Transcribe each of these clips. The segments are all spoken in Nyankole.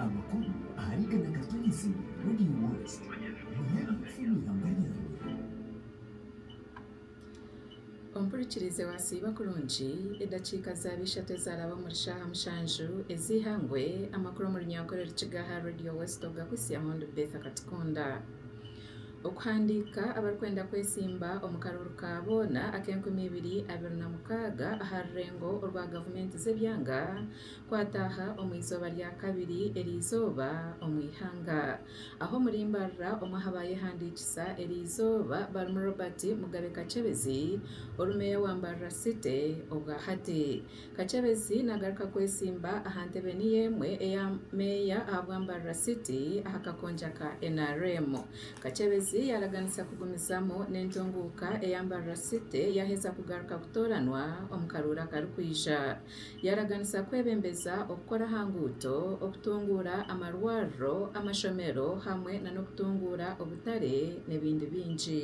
Amakuru ahari Gana Gaturize Radio World Munyaanya kufa omu ihamba ryawe. Ompurikirize wasiiba kurungi, edakiika zaaba ishatu ezaraba omuri shaaha mushanju ez'eihangwe, amakuru omu runyankore rukiga aha Radio West ogakuhisya mundu Betha Katikunda. Okuhandiika abarikwenda kwetsimba omu karuru ka boona ak'enkumi ibiri abiri na mukaaga aha rurengo orwa gavumenti z'ebyanga kwataaha omu izooba rya kabiri eri izooba omu ihanga aho omuri Mbarara omwe aha baayehandiikisa eri izooba barimu Robert Mugabe Kachebezi oru meeya wa Mbarara City obwahati Kakyebezi nagaruka kwesimba aha ntebe niyo emwe eya Meeya aha bwa Mbarara City aha kakonja ka nrm. Kakyebezi yaraganisa kugumizamu n'entunguuka eya Mbarara City yaheza kugaruka kutooranwa omu karooro akarikwija. Yaraganisa kwebembeza okukora aha nguuto, okutunguura amarwariro, amashomero hamwe nanokutunguura obutare nebindi bingi.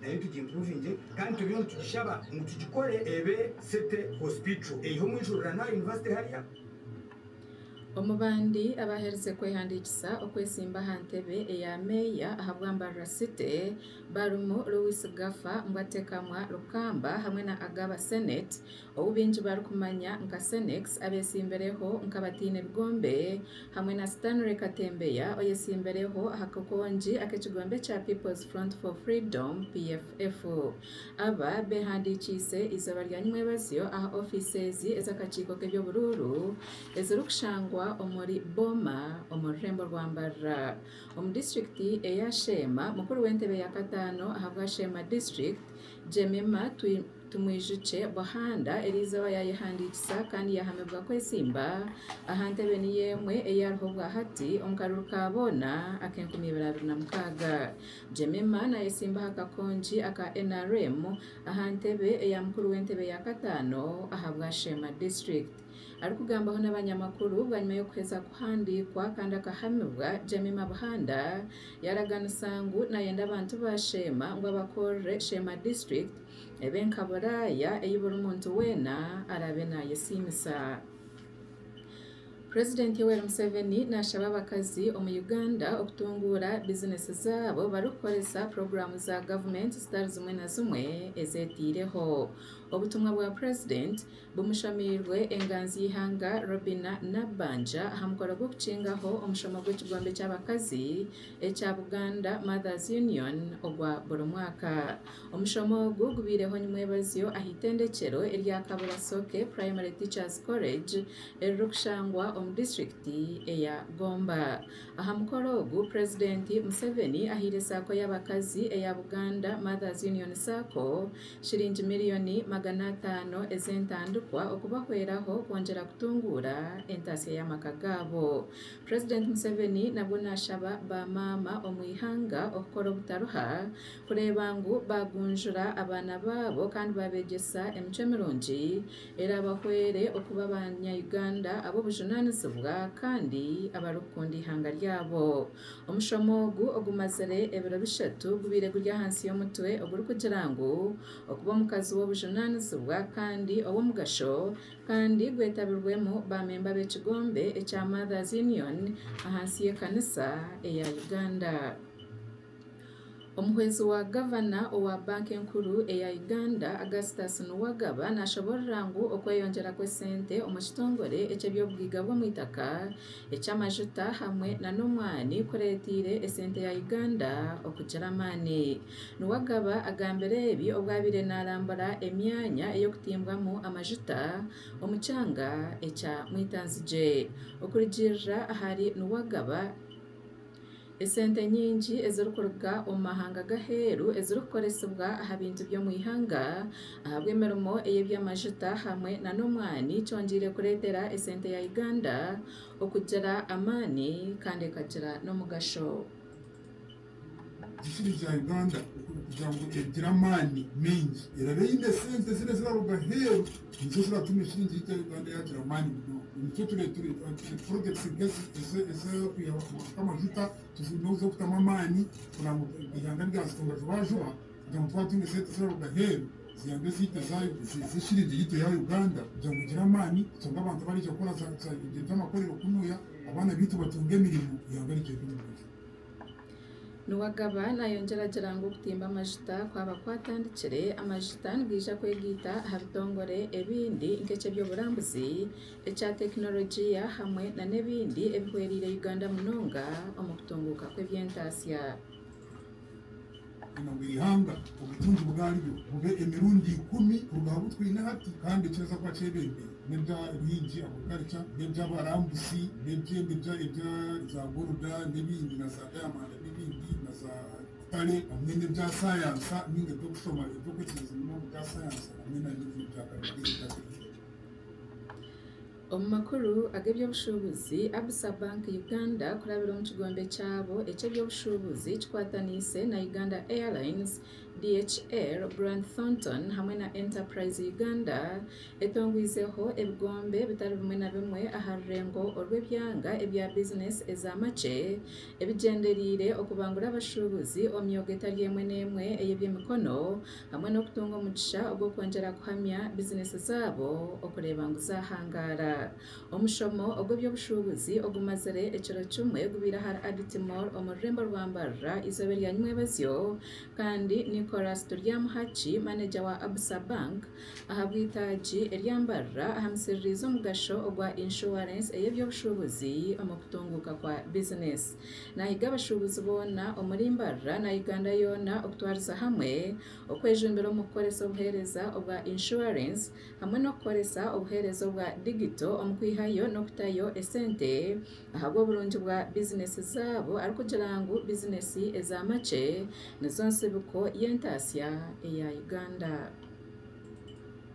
Nayo tugimpuruvingye kandi turiyo nitugishaba ngu tugikore ebe City Hospital eiha omu ijurira n'aha yunivasite hariya. Omu bandi abaaherize kwehandiikisa okwetsimba aha ntebe eya meeya ahabwa Mbarara City barimu Louis Gafa, Mbwatekamwa, Rukamba hamwe na Agaba Senate. ou baingi barikumanya nka Senex, abeetsimbireho nk'abataine bigombe, hamwe na Stanley Katembeya oyetsimbireho aha kakongi ak'ekigombe kya People's Front for Freedom, PFF. Aba beehandiikiise eizooba rya Nimwebazyo aha ofiiseezi ez'akakiiko k'eby'oburuuru ezirikushangwa omuri Boma omu rurembo rwa Mbarara omu disiturikiti eya Sheema, mukuru w'entebe ya kataano ahabwa Sheema District, Jemima Tumwijukye Buhanda eri izooba yaayehandiikisa kandi yaahamibwa kwetsimba aha ntebe niyo emwe ei ariho bwahati omu karuru ka boona ak'enkumi ibiri abiri na mukaaga. Jemima naayetsimba aha kakongi aka nrm aha ntebe eya mukuru w'entebe ya kataano ahabwa Sheema District. Arikugambaho n'abanyamakuru bwanyima y'okuheza kuhandiikwa kandi akahamibwa, Jemima Buhanda yaraganisa ngu nayenda abantu ba Sheema ngu abakorere Sheema District ebe nka Buraaya ei buri muntu weena araabe nayesiimisa. President Yoweri Museveni nashaba abakazi omu Uganda okutunguura bizinesi zaabo barikukoresa puroguramu za government zitari zimwe na zimwe ezeteireho. Obutumwa bwa president Bumushamirwe enganzi y'eihanga Robinah Nabbanja aha mukoro gw'okukingaho omushomo gw'ekigombe ky'abakazi ekya Buganda Mothers Union ogwa buri mwaka. Omushomo ogu gubaireho Nimwebazyo aha itendekyero erya Kabura Soke Primary Teachers College eririkushangwa omu disiturikiti eya Gomba. Aha mukoro ogu Purezidenti Museveni ahaire Sacco y'abakazi eya Buganda Mothers Union Sacco shiringi miriyoni magana ataano ez'entandikwa okubahweraho kwongyera kutunguura entaasya y'amaka gaabo. President Museveni nabwo nashaba ba maama omu ihanga okukora obutaruha kureeba ngu bagunjura abaana baabo kandi babegyesa emicwe mirungi erabahwere okuba abanya Uganda ab'obujunanizibwa kandi abarikukunda ihanga ryabo. Omushomo ogu ogumazire ebiro bishatu gubaire guri ahansi y'omutwe ogurikugira ngu Okuba Omukazi w'Obujunaanizibwa kandi ow'Omugasho kandi gwetabirwemu baamemba b'ekigombe ekya Mothers Union ahansi y'ekanisa eya Uganda. Omuhwezi wa Gavana owa Banka Enkuru eya Uganda, Augustus Nuwagaba nashaba Orirangu okweyongyera kw'esente omu kitongore eky'eby'obugaiga bw'omwitaka, eky'amajuta hamwe na n'omwani kuretiire esente ya Uganda okugira amaani. Nuwagaba agambire ebi obwo abaire narambura emyanya ey'okutimbwamu amajuta omu kyanga ekya Mwitanzigye. Okurugiirira ahari Nuwagaba. Esente nyingi ezirikuruga omu mahanga g'aheeru ezirikukoresibwa aha bintu by'omu ihanga ahabw'emirimo ey'eby'amajuta hamwe nana omwani kyongyeire kureetera esente ya Uganda okugira amaani kandi ekagira n'omugasho. Emisiri ya Uganda kugira ngu egire amaani maingi eraabe eine esente ziriya eziraruga aheeru. Nikyo kiratuma ekiringi eita Uganda yaagira amaani munonga. Nikyo tureeteire purojekiti nka ezi ez'okwihaho amajuta tuziineho z'okutamu amaani kugira ngu eihanga ryazitunga juba juba kugira ngu twaba twine sente ziraruga aheeru ziyambe ekiringi yaitu eya Uganda kugira ngu egire amaani eshangwe abantu abaraija kukora za eby'amakorero kunuya abaana baitu batunge emirimo eihanga rigyende omu buryo. Niwe akaba naayongyeragyera ngu okutimba amajuta kwaba kwatandikire, amajuta nigaija kwegaita aha bitongore ebindi nk'eky'eby'oburambuzi, ekya tekinologi hamwe nana ebindi ebihwereire Uganda munonga omu kutunguuka kw'eby'entaatsya. Obukama bw'eihanga, obutungi bwaryo, bube emirundi ikumi kuruga aha bu twine hati, kandi nikireeza kuba kyebembire n'ebya bingi, agriculture, n'eby'abarambuzi, n'ebye nebya ebya za goruda n'ebindi, na za dayamanda n'ebindi, na za butare, hamwe n'ebya sayansa ninga eby'okushoma eby'okwikiriza munonga ebya sayansa, hamwe na n'ebindi bya karimagyezi ebya tekinologiya. Omu makuru ag'eby'obushuubuzi, Absa Bank Uganda kurabira omu kigombe kyabo eky'eby'obushuubuzi kikwataniise na Uganda Airlines, DHL, Grant Thornton hamwe na Enterprise Uganda etongwizeho ebigombe bitari bimwe na bimwe aha rurengo orw'ebyanga ebya bizineesi eza makye ebigyendereire okubangura abashuubuzi omu myoga etari emwe n'emwe ey'eby'emikono hamwe n'okutunga omugisha ogw'okwongyera kuhamya bizineesi zaabo okureeba ngu zaahangaara. Omushomo ogw'eby'obushuubuzi ogumazire ekiro kimwe gubaire ahari Agiti Mall omu rurembo rwa Mbarara eizooba erya Nywebazyo kandi Nicholas Turyamuhaki, maneja wa Absa Bank ahabw'eitaagi erya Mbarara ahamisiririize omugasho ogwa Insurance ey'eby'obushuubuzi omu kutunguuka kwa bizineesi. Naahiga abashuubuzi boona omuri Mbarara na Uganda yoona okutwariza hamwe okwejumbira omu kukoresa obuheereza obwa Inshuwarensi hamwe n'okukoresa obuheereza obwa digito omu kwihayo n'okutayo esente ahabw'oburungi bwa bizineesi zaabo arikugira ngu bizineesi eza makye nizo ntsibiko y'entaasya eya Uganda.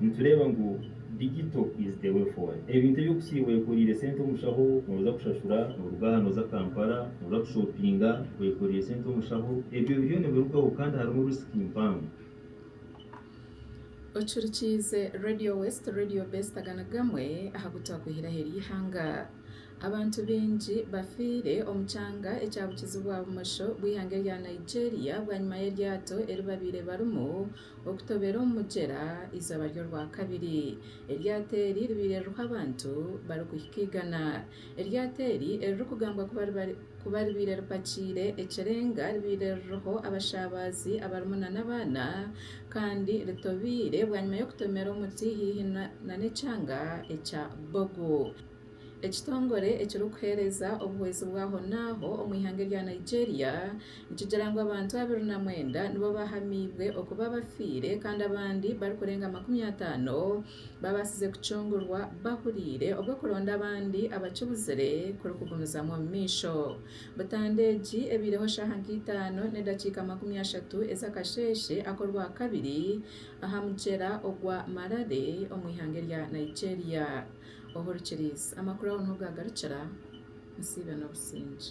Nitureeba ngu digito is the way forward. Ebintu ebi okusiiba oyekoreire sente omushaho, noza kushashura, noruga aha noza Kampala, noza kushopinga oyekoreire sente omushaho. Ebyo biriyo nibirugaho kandi harimu risk mpango. Ocurikiize Radio West, Radio Best aga ni gamwe aha gu twakwihiraho eri ihanga. Abantu baingi bafiire omu kyanga ekya bukizi bwa bumosho bw'ihanga erya Nigeria bwanyima y'eryato eri babaire barimu okutobera omu mugyera eizooba ry'Orwakabiri. Eryato eri ribaire ririho abantu barikuhika igana. Eryato eri eririkugambwa kuba ribaire ripakiire ekirenga ribaire ririho abashaabazi abarimu nana abaana kandi ritobeire bwanyima y'okutomera omuti haihi nana ekyanga ekya Bogo. Ekitongore ekirikuheereza obuhwezi bw'ahonaaho omu ihanga erya Nigeria nikigira ngu abantu abiri na mwenda nibo bahamiibwe okuba abafiire kandi abandi barikurenga makumi ataano babaasize kucungurwa bahuriire obu okulonda abandi abakibuzire kurikugumizamu omu maisho butandwa egi ebaireho shaaha nka itaano n'edakiika makumi ashatu ez'akasheeshe ak'orwakabiri aha mugyera ogwa Marare omu ihanga erya Nigeria. Obu orikiriiza amakuru aho niho gaagarukira, nsiibe n'obusingye.